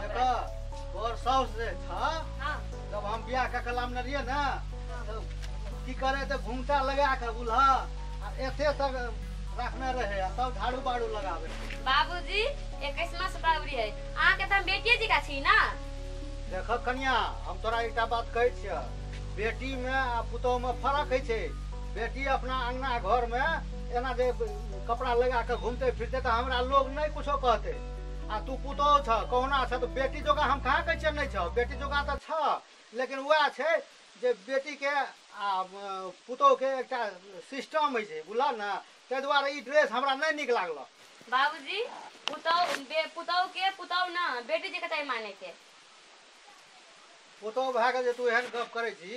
देखो तोर साउस जे था हाँ जब हम बियाह का कलाम न रहिए ना तो की करे तो घूमटा लगा के बुला आ एते तक रखने रहे आ तब झाड़ू बाड़ू लगावे बाबूजी इक्कीसवा से बाबरी है अहाँ के तो हम बेटिए जी का छी ना देखो कन्या हम तोरा एकटा बात कहै छिय बेटी में आ पुतोह में फर्क है छै बेटी अपना अंगना घर में एना जे कपड़ा लगा के घूमते फिरते तो हमरा लोग नहीं कुछो कहते आ तू पुतोह छ कहुना छ तऽ बेटी जोगा हम कहाँ कहै छियै नहि छ बेटी जोगा तऽ छ लेकिन वएह छै जे बेटीके आ अ, पुतोहके एकटा सिस्टम होइ छै बुझलह ने ताहि दुआरे ई ड्रेस हमरा नहि नीक लागल बाबूजी पुतौह बे- पुतौह के पुतौह ना बेटी जकाँ चाही माने के पुतोह भए कऽ जे तू एहन गप करै छी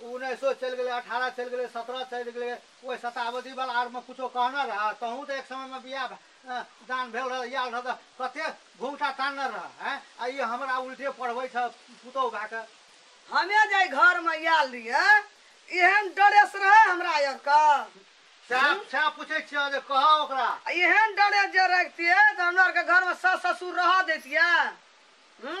ओ उन्नैसो चलि गेलै, अठारह चलि गेलै, सतरह चलि गेलै। ओहि शताब्दी बला आर मे किछो कहने रहए? तोहूँ तँ एक समय मे बिआह दान भेल रहए, आएल रहए तँ कते घुँघटा तानने रहए। आँय, आ ई हमरा उल्टे पढ़बै छह पुतहु भए कऽ। हमे जाहि घर मे आएल रहिअइ, एहेन डरेस रहइ हमरा आर केँ? सएह, सएह पुछै छिअह जे कहह ओकरा। आ एहेन डरेस जे रहितिऐ तँ हमरा आर केँ घर मे सास-ससुर रहए दैतिऐ? हूँ।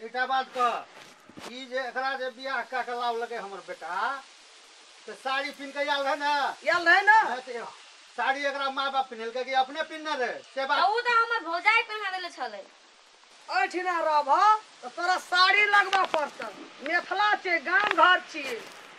एकटा बात कह ई जे एकरा जे बियाह कए कऽ लावलकै हमर बेटा तऽ साड़ी पिन्ह कऽ आयल रहै ने आयल रहै ने नहि तऽ ए- साड़ी एकरा माय बाप पिन्हेलकै कि अपने पिन्हने रहै से तऽ बात ओ तऽ हमर भौजाई पहिना देले छलै एहिठिना रहबह तऽ तोरा साड़ी लगबऽ पड़तऽ मिथिला छियै गाम घर छियै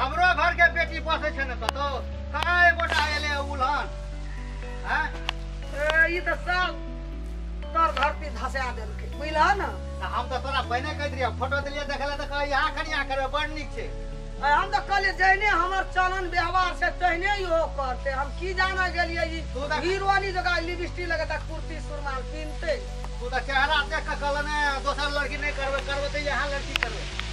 हमरो घर के बेटी बसे छे ने कतो कहाँ एक गोटा एले उलहन हैं ए, ई त सब तोर धरती धसा देलकै बुझलह ने त हम तो तोरा पहिने कह दिया फोटो दिलिए देखले त कह यहाँ कनिया करे बड़ नीक छे आ हम तऽ कहलियै जहने हमर चलन व्यवहार छै तहने इहो करतै हम की जाना गेलियै ई तू तऽ- हीरोनी जकाँ लिपस्टिक लगेता कुर्ती सुरमाल पिन्हतै तू तो चेहरा देख के कहले ने दोसर लड़की नहीं करबे करबे तो यहाँ लड़की करबे